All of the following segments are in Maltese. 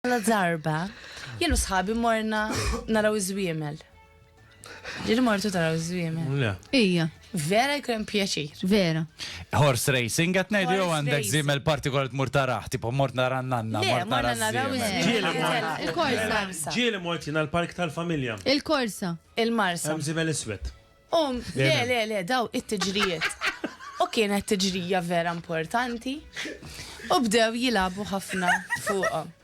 Għala darba, jien u sħabi morna naraw iż-żwiemel. Ġili mortu taraw iż-żwiemel. Le. Ija. Vera jkun pjaċir. Vera. Horse racing qed ngħidu jew Horse għandek racing. żiemel partikolari tmur taraħ, tipo mort nara n-nanna, Le, mort morna nara naraw ż-żiemel. iż-żwiemel. Ġieli Ġieli mort. mort. Il-korsa. Ġieli mort jiena l-park tal-familja. Il-korsa. Il-marsa. Hemm żiemel iswed. Um, le, le, le, daw it-tiġrijiet. U kienet tiġrija vera importanti. U bdew jilabu ħafna fuqhom.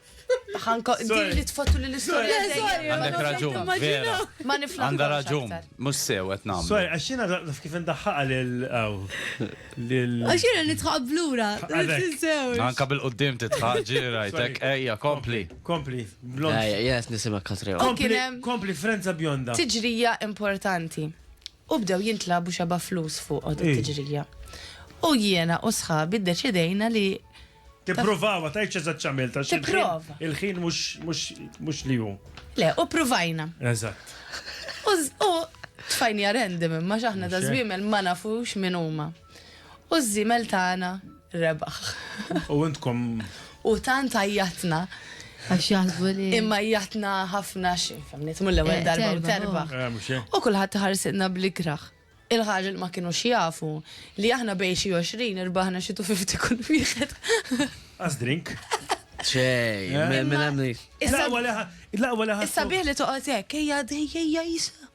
Ħanko, di li tfottu li l-istorja. Għandek raġun, vera. Ma niflaħ. Għandha raġun, mhux sew qed nagħmlu. Sorry, għax jiena naf kif indaħħaqa lil lil. Għax jiena nitħaq blura. Anka bil-qudiem titħaq ġirajtek, ejja, kompli. Kompli, blond. Ej, jes nisimak Katrew. U kien hemm- Kompli, frenza bjonda. tiġrija importanti. U bdew jintlabu xeba' flus fuq din Ej. it-tiġrija. U jiena u sħabi ddeċidejna li Tippruvaw, ma tgħidx eżatt x'għamilt. għax il-ħin- Tipprova. Il-ħin mhux mhux mhux li hu. le, u pruvajna. Eżatt. U z- U tfajnija random imma x'aħna da Mhux hekk. żwiemel ma nafux min huma. U ż-żiemel tagħna rebaħ. U intkom. U tant għajjatna. Għax jaħsbu li. Imma jatna ħafna xifemni, tmull l-ewwel eh, darba u terba. Eh, u kulħadd ħarsinna bl-ikraħ. Il-ħaġa li ma kienu xjafu li aħna bej xi 20 irbaħna xi 50 kull wieħed. As drink. Xej, eh? minn hemm Issa bih li toqgħod hekk, ejja dejja jisa.